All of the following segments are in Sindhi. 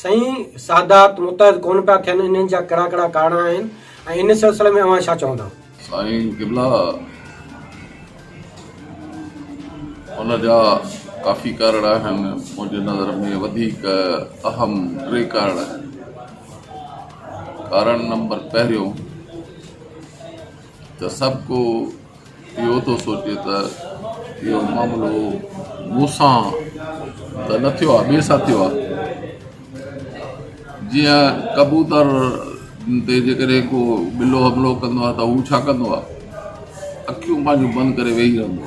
سائين سادات متحد ڪونه پيا ٿين انهن جا ڪهڙا ڪهڙا ڪارڻ آهن ۽ ان سلسلي ۾ اوهان ڇا چوندا؟ سائين قبلا ان جا ڪافي ڪارڻ آهن منهنجي نظر ۾ وڌيڪ اهم ٽي ڪارڻ آهن ڪارڻ نمبر پهريون ته سڀ ڪو اهو ٿو سوچي ته اهو معاملو مون سان ته نه ٿيو آهي ٻئي سان ٿيو آهي جيئن ڪبوتر تي جيڪڏهن ڪو ٻلو حملو ڪندو آهي ته هو ڇا ڪندو آهي اکيون پنهنجون بند ڪري ويهي رهندو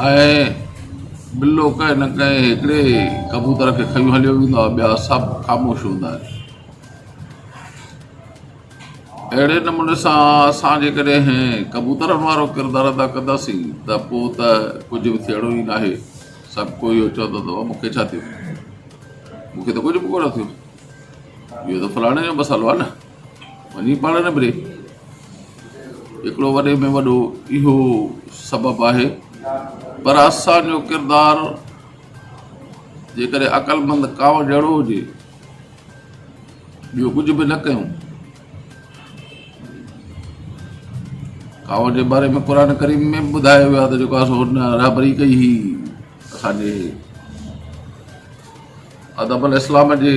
آهي ۽ ٻلو ڪنهن نه ڪنهن هڪڙي ڪبوتر کي کيون هليو ويندو آهي ٻيا سڀ خاموش هوندا آهن اهڙي نموني سان اسان جيڪڏهن ڪبوترن وارو ڪردار ادا ڪنداسين ته پوء ته ڪجهه به ٿيڻو ئي ناهي، سڀ ڪو اهو چوندو ته مون کي ڇا ٿيو، مون کي ته ڪجهه به ڪونه ٿيو، اهو ته فلاڻي جو مسئلو آهي نه، وڃي پاڻ نبري. هڪڙو وڏي ۾ وڏو اهو سبب آهي. پر اسان جو ڪردار جيڪڏهن عقلمند ڪانء جهڙو هجي، ٻيو ڪجهه به نه ڪيون. ڪاوڙ جي باري ۾ قرآن ڪريم ۾ به ٻڌايو ويو آهي ته جيڪو سو هن رهبري ڪئي هئي اسان جي ادب الاسلام جي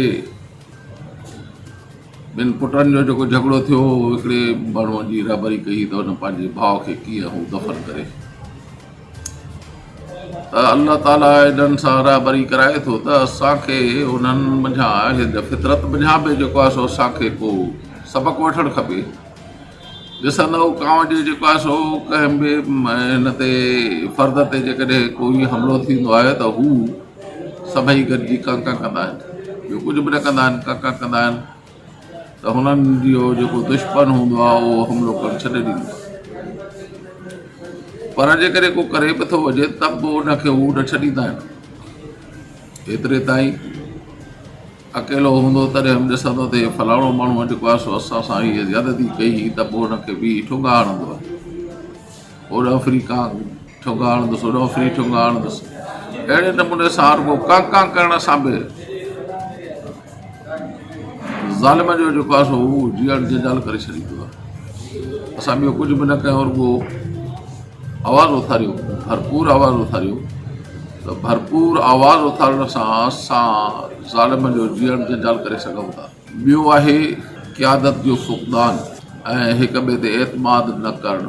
ٻن پٽن جو جيڪو جھڳڙو ٿيو هو هڪڙي ماڻهوء جي رهبري ڪئي ته هن پنهنجي ڀاء کي ڪيئن هو دفن ڪري ته الله تعاليٰ انهن سان رهبري ڪرائي ٿو ته اسان کي انهن منجهان هن فطرت منجهان به جيڪو آهي سو اسان کي ڪو سبق وٺڻ کپي ڏسندؤ ڪانو جي جيڪو آهي سو ڪنهن به هن تي فرد تي جيڪڏهن ڪوئي حملو ٿيندو آهي ته هو سڀئي گڏجي ڪا ڪا ڪندا آهن ٻيو ڪجهه به نه ڪندا آهن ڪا ڪا ڪندا آهن ته هنن جو جيڪو دشمن هوندو آهي اهو حملو ڪرڻ ڇڏي ڏيندو آهي پر جيڪڏهن ڪو ڪري به ٿو وڃي ته به ان کي هو نه ڇڏيندا آهن ايتري تائين اڪيلو هوندو تڏهن به ڏسندو ته هي فلاڻو ماڻهو جيڪو آهي سو اسان سان هيء زيادتي ڪئي هئي ته به ان کي به ٺونگا هڻندو آهي اوڏانهن ڦري ڪانء ٺونگا هڻندس، اوڏانهن ڦري ٺونگا هڻندس. اهڙي نموني سان رڳو ڪانء ڪانء ڪرڻ سان به ظالم جو جيڪو آهي سو هو جيئڻ جنجال ڪري ڇڏيندو آهي. اسان ٻيو ڪجهه به نه ڪيو رڳو آواز اٿاريو، ڀرپور آواز اٿاريو ته ڀرپور آواز اٿارڻ سان اسان ظالم جو جيئڻ جنجال ڪري سگهون ٿا. ٻيو آهي قيادت جو فقدان ۽ هڪ ٻئي تي اعتماد نه ڪرڻ.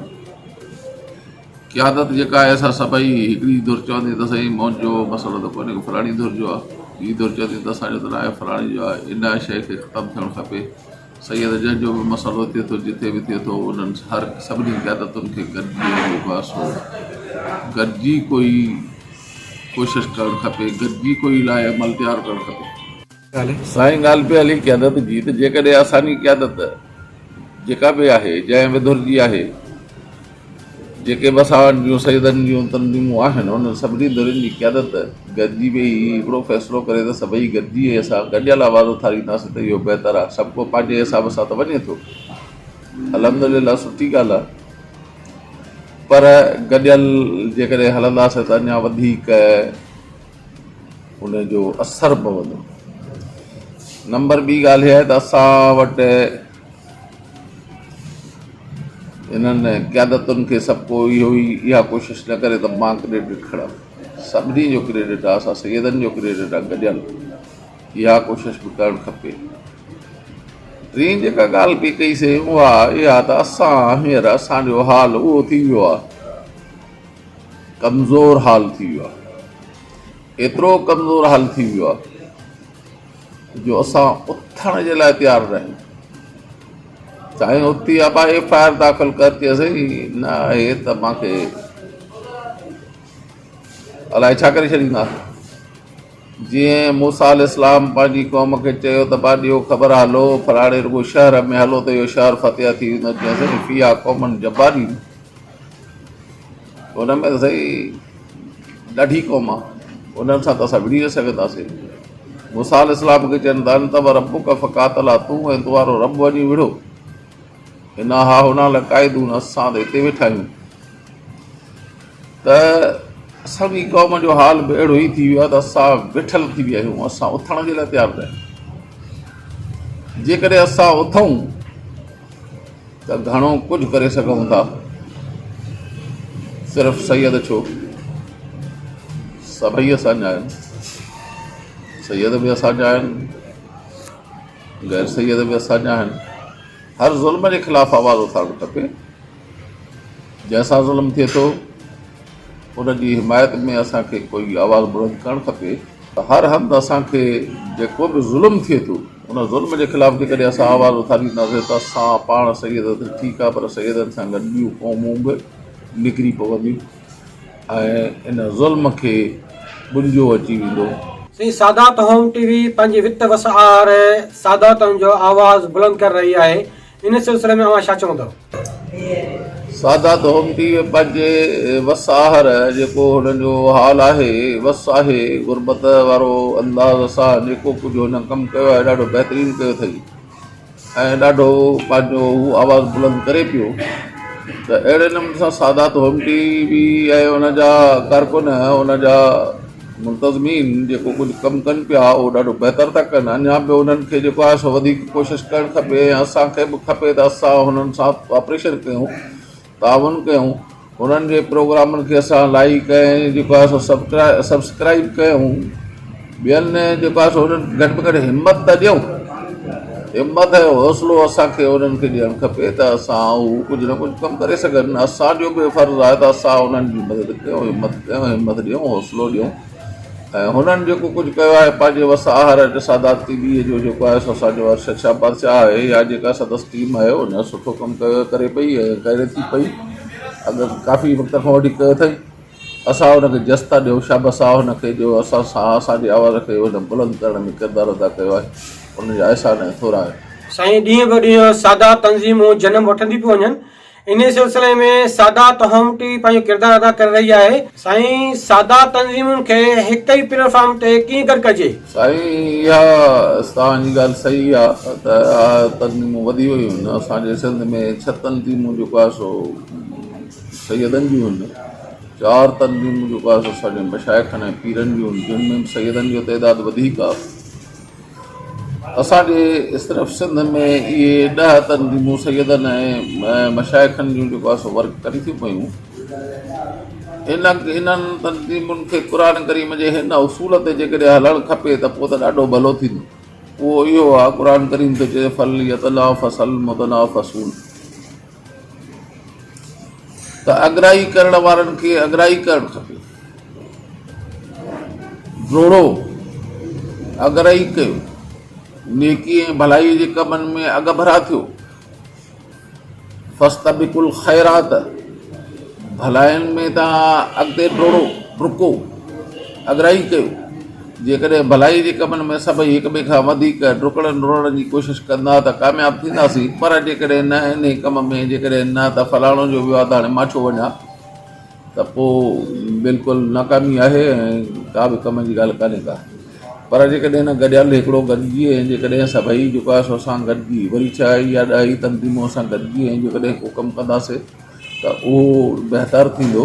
قيادت جيڪا آهي سا سڀئي هڪڙي ڌر چوندي ته سائين منهنجو مسئلو ته ڪونهي فلاڻي ڌر جو آهي، ٻي ڌر چوندي ته اسان جو ته ناهي فلاڻي جو آهي، ان شيء کي ختم ٿيڻ کپي. سيد جنهن جو به مسئلو ٿئي ٿو جتي به ٿئي ٿو انهن هر سڀني قيادتن کي گڏجي وڃي بحث هو گڏجي ڪوئي ڪوشش ڪرڻ کپي گڏجي ڪوئي لاء عمل تيار ڪرڻ کپي. سائين ڳالهه پئي هلي قيادت جي ته جيڪڏهن اسانجي قيادت جيڪا به آهي جنهن وڌر جي آهي جيڪي به اسان وٽ جون سيدن جون تنظيمون آهن انهن سڀني ڌرين جي قيادت گڏجي ويهي هي هڪڙو فيصلو ڪري ته سڀئي گڏجي هي اسان گڏيل آواز اٿارينداسين ته اهو بهتر آهي سڀ ڪو پنهنجي حساب سان ته وڃي ٿو الحمدلله سٺي ڳالهه آهي پر گڏيل جيڪڏهن هلنداسين ته اڃا وڌيڪ ان جو اثر پوندو. نمبر ٻي ڳالهه اها آهي ته اسان وٽ انهن قيادتن کي سڀ ڪو اهو ئي اها ڪوشش نه ڪري ته مان ڪريڊٽ کڻان. سڀني جو ڪريڊٽ آهي، اسان سيدن جو ڪريڊٽ آهي گڏيل. اها ڪوشش به ڪرڻ کپي. ٽين جيڪا ڳالهه پئي ڪئي سي اها اها ته اسان هينئر اسان جو حال اهو ٿي ويو آهي. ڪمزور حال ٿي ويو آهي ايترو ڪمزور حال ٿي ويو آهي جو اسان اٿڻ جي لاء تيار نه آهيون سائين اتي ابا ايف آء آر داخل ڪر چي سائين نه هي ته مان کي الائي ڇا ڪري ڇڏيندا جي موسا علي اسلام پنهنجي قوم کي چيو ته با ڏيو خبر هلو فلاڻي رڳو شهر ۾ هلو ته اهو شهر فتح ٿي ويندو چي سائين في آ قومن جبارين ان ۾ سائين ڏاڍي قوم آ انهن سان ته اسان وڙهي نه سگهنداسين موسيٰ عليه السلام کي چين ته انت و ربک فقاتلا تون ۽ تنهارو رب وڃي وڙهو انا ها هنا لقاعدون اسان ته هتي ويٺا آهيون ته اسان جي قوم جو حال به اهڙو ئي ٿي ويو آهي ته اسان ويٺل ٿي ويا آهيون اسان اٿڻ جي لاء تيار نه آهيون جيڪڏهن اسان اٿون ته گهڻو ڪجهه ڪري سگهون ٿا، صرف سيد ڇو سڀئي اسان جا آهن، سيد به اسان جا آهن، غير سيد به اسان جا آهن، هر ظلم جي خلاف آواز اٿارڻ کپي، جنهن سان ظلم ٿئي ٿو. ان جي حمايت ۾ اسان کي ڪو ئي آواز بلند ڪرڻ کپي ته هر هنڌ اسان کي جيڪو به ظلم ٿئي ٿو ان ظلم جي خلاف جيڪڏهن اسان آواز اٿارينداسين ته اسان پاڻ سيد ته ٺيڪ آهي پر سيدن سان گڏ ٻيون قومون به نکري پونديون ۽ ان ظلم کي ٻنجو اچي ويندو. سائين سادات هوم ٽي وي پنهنجي وت وسعار ساداتن جو آواز بلند ڪري رهي آهي. ان سلسلي ۾ اوهان ڇا چوندؤ؟ سادات هومتي پنهنجي وس آهر جيڪو هنن جو حال آهي، وس آهي غربت وارو انداز سان جيڪو ڪجهه هنن ڪم ڪيو آهي ڏاڍو بهترين ڪيو اٿئي ۽ ڏاڍو پنهنجو هو آواز بلند ڪري پيو ته اهڙي نموني سان سادات هومتي به ۽ ان جا ڪارڪن ان جا ملتزمين جيڪو ڪجهه ڪم ڪن پيا اهو ڏاڍو بهتر ٿا ڪن اڃان به انهن کي جيڪو آهي سو وڌيڪ ڪوشش ڪرڻ کپي ۽ اسان کي به کپي ته اسان انهن سان ڪوآپريشن ڪيون تعاون ڪيون انهن جي پروگرامن کي اسان لائيڪ ۽ جيڪو آهي سو سبڪرائي سبسڪرائيب ڪيون ٻين جيڪو آهي سو انهن کي گهٽ ۾ گهٽ همت ته ڏيون همت ۽ حوصلو اسان کي انهن کي ڏيڻ کپي ته اسان هو ڪجهه نه ڪجهه ڪم ڪري سگهن. اسان جو به فرض آهي ته اسان انهن جي مدد ڪيون، همت ڪيون، همت ڏيون، حوصلو ڏيون ۽ هنن جيڪو ڪجهه ڪيو آهي پنهنجي وس آهر ۽ ٽساداد تي ٻيء جو جيڪو آهي سو اسان جو ارشد شاهه بادشاهه آهي يا جيڪا سندس ٽيم آهي ان سٺو ڪم ڪيو ڪري پئي ۽ ڪري ٿي پئي اڳ ڪافي وقت کان وٺي ڪيو اٿئي. اسان هن کي جس ٿا ڏيون، شابس آ هن کي جو اسان سان اسان جي آواز کي هن بلند ڪرڻ ۾ ڪردار ادا ڪيو آهي، انهن جا احسان ۽ ٿورا آهن. سائين ڏينهن به ڏينهن سادا تنظيمون جنم وٺنديون پيون وڃن انهي سلسلي ۾ سادا تهامٽي پنهنجو ڪردار ادا ڪري رهي آهي. سائين سادا تنظيمون کي هڪ ئي پليٽ فارم تي ڪيئن گڏ ڪجي؟ سائين اها توهان جي ڳالهه صحيح آ ته اها تنظيمون وڌي ويون آهن اسان جي سنڌ ۾ ڇهه تنظيمون جيڪو آهي سو سيدن جون هن چار تنظيمون جيڪو آهي سو اسان جي مشائخن ۽ پيرن جون هن جن ۾ سيدن جو تعداد وڌيڪ آهي اسان جي صرف سنڌ ۾ اهي ڏهه تنظيمون سيدن ۽ مشائخن جون جيڪو آهي سو ورڪ ڪري ٿيون پيون ان انهن تنظيمن کي قرآن ڪريم جي هن اصول تي جيڪڏهن هلڻ کپي ته پوء ته ڏاڍو ڀلو ٿيندو اهو اهو آهي قرآن ڪريم ٿو چئي فل يتنا فصل متنا فصول ته اڳرائي ڪرڻ وارن کي اڳرائي ڪرڻ کپي. جوڙو، اڳرائي ڪيو، نيڪي ۽ ڀلائي جي ڪمن ۾ اڳڀرا ٿيو. فاستبقوا الخيرات، ڀلائين ۾ توهان اڳتي ڊوڙو، ڊڪو، اڳرائي ڪيو. جيڪڏهن ڀلائيء جي ڪمن ۾ سڀئي هڪ ٻئي کان وڌيڪ ڊڪڻ ڊوڙڻ جي ڪوشش ڪندا ته ڪامياب ٿينداسين، پر جيڪڏهن نه انهيء ڪم ۾ جيڪڏهن نه ته فلاڻو جو ويو آ ته هاڻي مان ڇو وڃان ته پوء بلڪل ناڪامي آهي ۽ ڪا به ڪم جي ڳالهه ڪانهي ڪا. پر جيڪڏهن نه گڏيل هڪڙو گڏجي ۽ جيڪڏهن سڀئي جيڪو آهي سو اسان گڏجي وري ڇهائي يا ڏهائي تنظيمون اسان گڏجي ۽ جيڪڏهن ڪو ڪم ڪنداسين ته اهو بهتر ٿيندو.